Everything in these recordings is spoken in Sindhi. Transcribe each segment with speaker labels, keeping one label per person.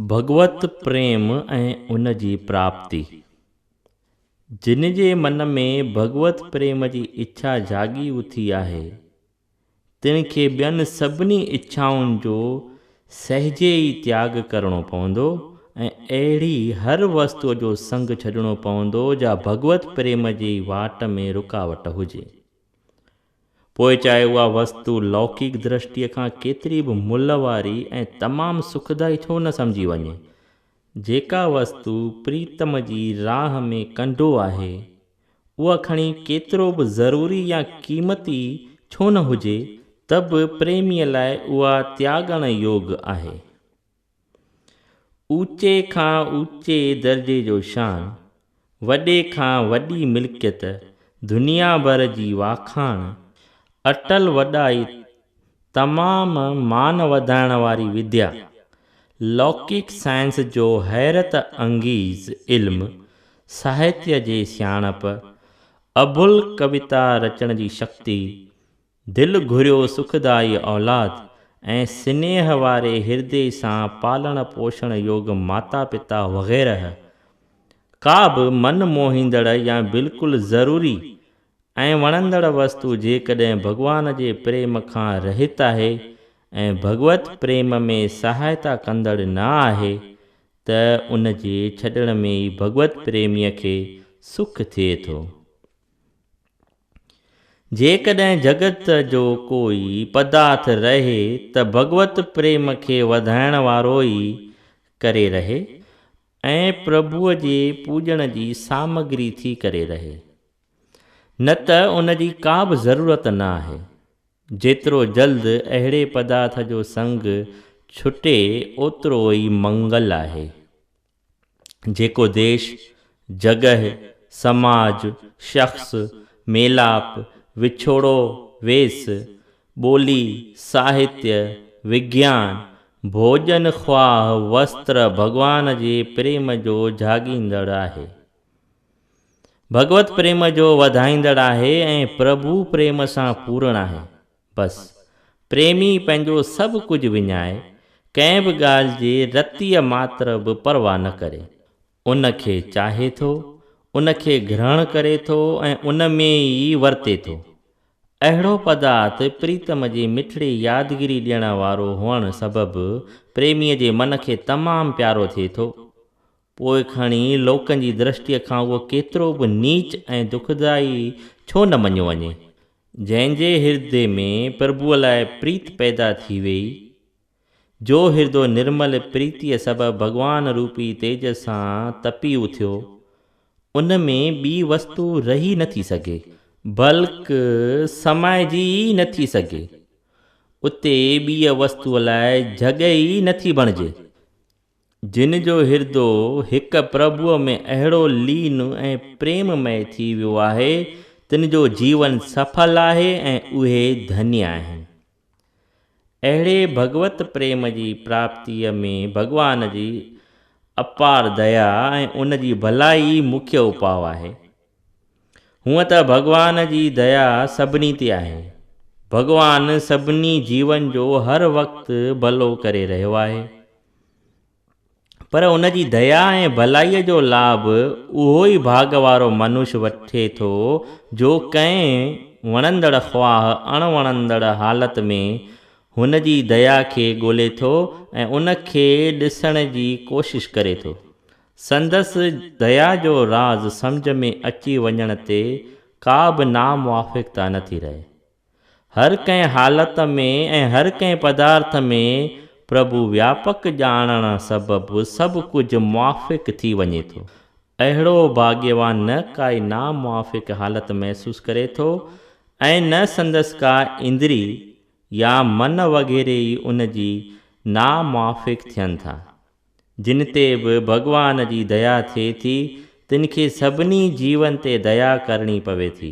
Speaker 1: ڀڳوت پريم ۽ ان جي پراپتي، جن جي من ۾ ڀڳوت پريم جي اڇا جاڳي اٿي آهي، تن کي ٻين سڀني اڇائن جو سهجي ئي تياڳ ڪرڻو پوندو ۽ اهڙي هر وستوء جو سنگ ڇڏڻو پوندو جا ڀڳوت پريم جي واٽ ۾ رڪاوٽ هجي. پوء چاهي اها وستو لوڪيڪ درشٽيء کان ڪيتري به ملهه واري ۽ تمام سکدائي ڇو نه سمجهي وڃي. جيڪا وستو پريتم جي راهه ۾ ڪنڊو آهي، اها کڻي ڪيترو به ضروري يا قيمتي ڇو نه هجي ته به پريميء لاء اها تياڳڻ يوگ آهي. اوچي کان اوچي درجي جو شان، وڏي کان وڏي ملڪيت، دنيا ڀر جي واکاڻ، اٽل وڏائي، تمام مان وڌائڻ واري وديا، لوڪڪ سائنس جو حيرت انگيز علم، ساهتيه جي سياڻپ، اڀل ڪويتا رچڻ جي شڪتي، دل گهريو سکدائي اولاد ۽ سنيهه واري هردي سان پالڻ پوشڻ يوگ ماتا پتا وغيره ڪا به من موهيندڙ يا بلڪل ضروري ۽ وڻندڙ وستو جيڪڏهن ڀڳوان جي پريم کان رهت آهي ۽ ڀڳوت پريم ۾ سهائتا ڪندڙ نه آهي ته ان جي ڇڏڻ ۾ ئي ڀڳوت پريميء کي سک ٿئي ٿو. جيڪڏهن جڳت جو ڪوئي پدارٿ رهي ته ڀڳوت پريم کي وڌائڻ وارو ئي ڪري رهي ۽ پرڀوء جي پوڄڻ جي سامگري ٿي ڪري رهي. نه ته ان جي ڪا به ضرورت نه آهي. جيترو جلد اهڙي پدارٿ جو سنگ ڇٽي اوترو ئي منگل آهي. جيڪو ديش، جڳهه، سماج، شخص، ميلاپ، وڇوڙو، ويس، ٻولي، ساهتيه، وگيان، ڀوڄن خواهه، وستر، ڀڳوان جي پريم جو جهاڳيندڙ آهي. ڀڳوت پريم جو وڌائيندڙ آهي ۽ پرڀو پريم سان پورڻ آهي. بس، پريمي پنهنجو سڀ ڪجهه وڃائي، ڪنهن به ڳالهه جي رتيء ماتر به پرواهه نه ڪري. ان کي چاهي ٿو، ان کي گرهڻ ڪري ٿو ۽ ان ۾ ئي ورتي ٿو. اهڙو پدارٿ پريتم جي مٺڙي يادگيري ڏيڻ وارو هئڻ سبب پريميء جي من کي تمام پيارو ٿئي ٿو. پوء کڻي لوڪن جي درشٽيء کان اهو ڪيترو به نيچ ۽ دکدائي ڇو نه مڃيو وڃي، جنهن جي هردي ۾ پرڀوء لاء پريت پيدا ٿي ويئي، جو هردو نرمل پريتيء سبب ڀڳوان روپي تيج سان تپي اٿيو، ان ۾ ٻي وستو رهي نه ٿي سگهي. بلڪ سمائجي ئي نه ٿي سگهي. اتي ٻيء وستوء لاء جڳهه ئي نه ٿي بڻجي. جن جو هردو هڪ پرڀوء ۾ اهڙو لين ۽ پريم مئي ٿي ويو آهي، تن جو جيون سڦل آهي ۽ اهي ڌني آهن. اهڙي ڀڳوت پريم جي پراپتيء ۾ ڀڳوان جي اپار ديا ۽ ان جي ڀلائي ئي مکيه اپاء آهي. هونء ته ڀڳوان جي ديا سڀني تي آهي. ڀڳوان سڀني جيون جو هر وقت ڀلو ڪري رهيو آهي. پر ان جي ديا ۽ ڀلائيء جو لاڀ اهو ئي ڀاڳ وارو منش وٺي ٿو جو ڪنهن وڻندڙ خواهه اڻ وڻندڙ حالت ۾ هن جي ديا کي ڳولي ٿو ۽ ان کي ڏسڻ جي ڪوشش ڪري ٿو. سندس ديا جو راز سمجهه ۾ اچي وڃڻ تي ڪا به ناموافقتا نٿي رهي. هر ڪنهن حالت ۾ ۽ هر ڪنهن پدارٿ ۾ پرڀو وياپڪ ڄاڻڻ سبب سڀ ڪجهه موافق ٿي وڃي ٿو. اهڙو ڀاڳيوان نه ڪائي ناموافق حالت محسوس ڪري ٿو ۽ نه سندس ڪا اندري يا من وغيره ئي ان جي ناموافق ٿين ٿا. جن تي به ڀڳوان جي ديا ٿئي ٿي تن کي سڀني جيون تي ديا ڪرڻي پوي ٿي.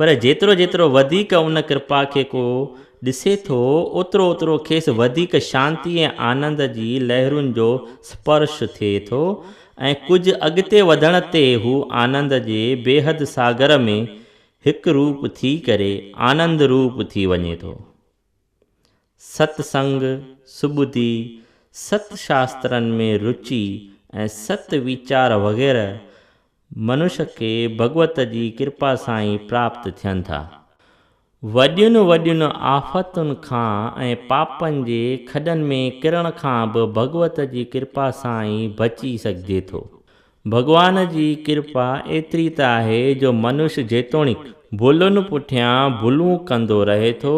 Speaker 1: پر جيترو جيترو وڌيڪ ان ڪرپا کي ڪو ڏسي ٿو، اوترو اوترو کيس وڌيڪ شانتي ۽ آنند جي لهرن جو سپرش ٿئي ٿو ۽ ڪجهه اڳتي وڌڻ تي هو آنند جي بيحد ساگر ۾ هڪ روپ ٿي ڪري آنند روپ ٿي وڃي ٿو. ست سنگ، سٻڌي، ست شاسترن ۾ روچي ۽ ست ويچار وغيره منش کي ڀڳوت جي ڪرپا سان ئي پراپت ٿين ٿا. وڏين وڏين آفتن کان ۽ پاپن جي کڏن ۾ ڪرڻ کان به ڀڳوت جي ڪرپا سان ئي بچي سگهجي ٿو. ڀڳوان جي ڪرپا ايتري ته آهي جو منش جيتوڻيڪ ڀلن پٺيان ڀلون ڪندو رهي ٿو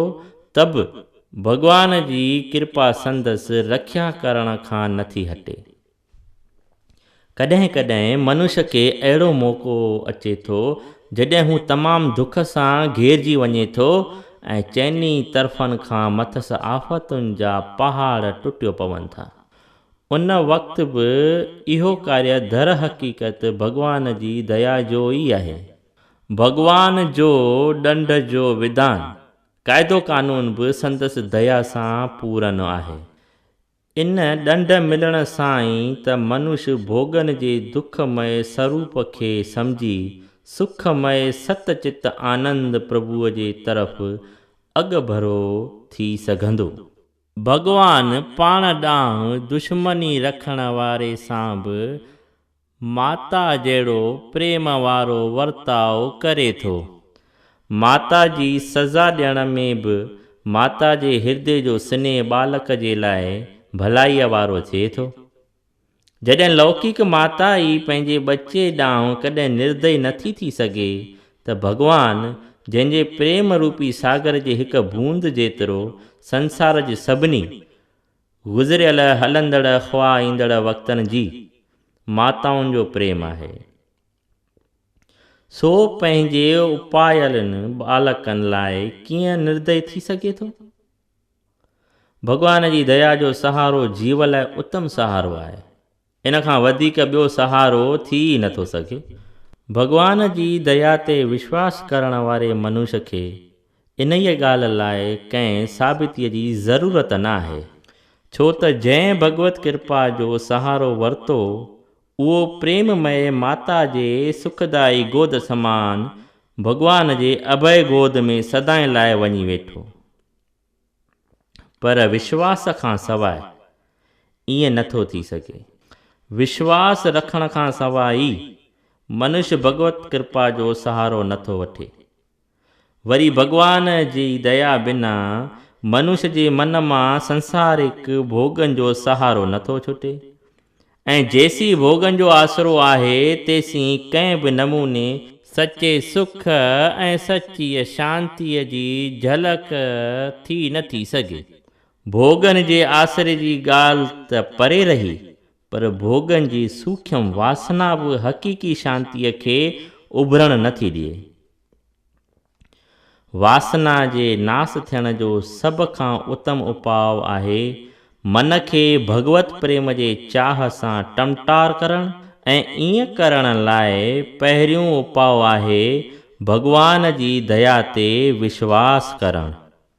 Speaker 1: ته به ڀڳوان جي ڪرپا سندس رکيا ڪرڻ کان نٿي هٽي. ڪڏهن ڪڏهن منش کي اهڙو موقعو اچي ٿو جڏهن هو تمام دک سان گهيرجي وڃي ٿو ۽ چئني طرفن کان مٿس آفتن جا پهاڙ ٽٽيو پون ٿا. ان وقت به اهو ڪاريه درحقيقت ڀڳوان جي ديا جو ئي آهي. ڀڳوان جو ڏنڊ جو وڌان، قاعدو قانون به سندس ديا سان پورن آهي. ان ڏنڊ ملڻ سان ئي ته منش ڀوڳن جي دک مئي سروپ کي سمجهي سک مئي ست چت آنند پرڀوء جي طرف اڳڀرو ٿي سگهندو. ڀڳوان پاڻ ڏانهن دشمني رکڻ واري سان به ماتا جهڙو پريم وارو ورتاء ڪري ٿو. ماتا جي سزا ڏيڻ ۾ به ماتا جي هردي جو سنيهه ٻالڪ جي لاء ڀلائيء وارو ٿئي ٿو. جڏهن لوڪيڪ ماتا ئي پنهنجي ٻچي ڏانهن ڪڏهن نردئي نه ٿي ٿي سگهي ته ڀڳوان جنهن جي پريم روپي ساگر جي هڪ بوند جيترو سنسار جي سڀني گذريل، هلندڙ خواه ايندڙ وقتن جي ماتائن جو پريم آهي سو پنهنجي اپايلن ٻالڪن لاء ڪيئن نردئي ٿي سگهي ٿو؟ ڀڳوان جي ديا جو سهارو جيو لاء اتم سهارو آهي. ان کان وڌيڪ ٻيو سهارو ٿي ئي نه ٿو سگهي. ڀڳوان جي ديا تي وشواس ڪرڻ واري منوش کي انهيء ڳالهه لاء ڪنهن ثابتيء جي ضرورت نه آهي. ڇو ته جنهن ڀڳوت ڪرپا جو سهارو ورتو، اهو پريم مئي ماتا جي سکدائي گود سمان ڀڳوان جي اڀئي گود ۾ سدائين لاء وڃي ويٺو. پر وشواس کان سواء ائين نه ٿو ٿي سگهي. وشواس رکڻ کان سواء ئي منش ڀڳوت ڪرپا جو سهارو نه ٿو وٺي. وري ڀڳوان جي ديا بنا منش جي من مان سنسارڪ ڀوڳن جو سهارو نه ٿو ڇٽي. ۽ جيسين ڀوڳن جو آسرو آهي تيسين ڪنهن به نموني سچي سک ۽ سچيء شانتيء جي جهلڪ ٿي نه ٿي سگهي. ڀوڳن جي آسري جي ڳالهه ته پري رهي پر ڀوڳن جي سوکيم واسنا به حقيقي شانتيء کي اڀرڻ نه ٿي ڏئي. واسنا جي ناس ٿيڻ جو سڀ کان اتم اپاء آهي من کي ڀڳوت پريم جي چاهه سان ٽمٽار ڪرڻ ۽ ايئن ڪرڻ لاء پهريون اپاء آهي ڀڳوان جي ديا تي وشواس ڪرڻ.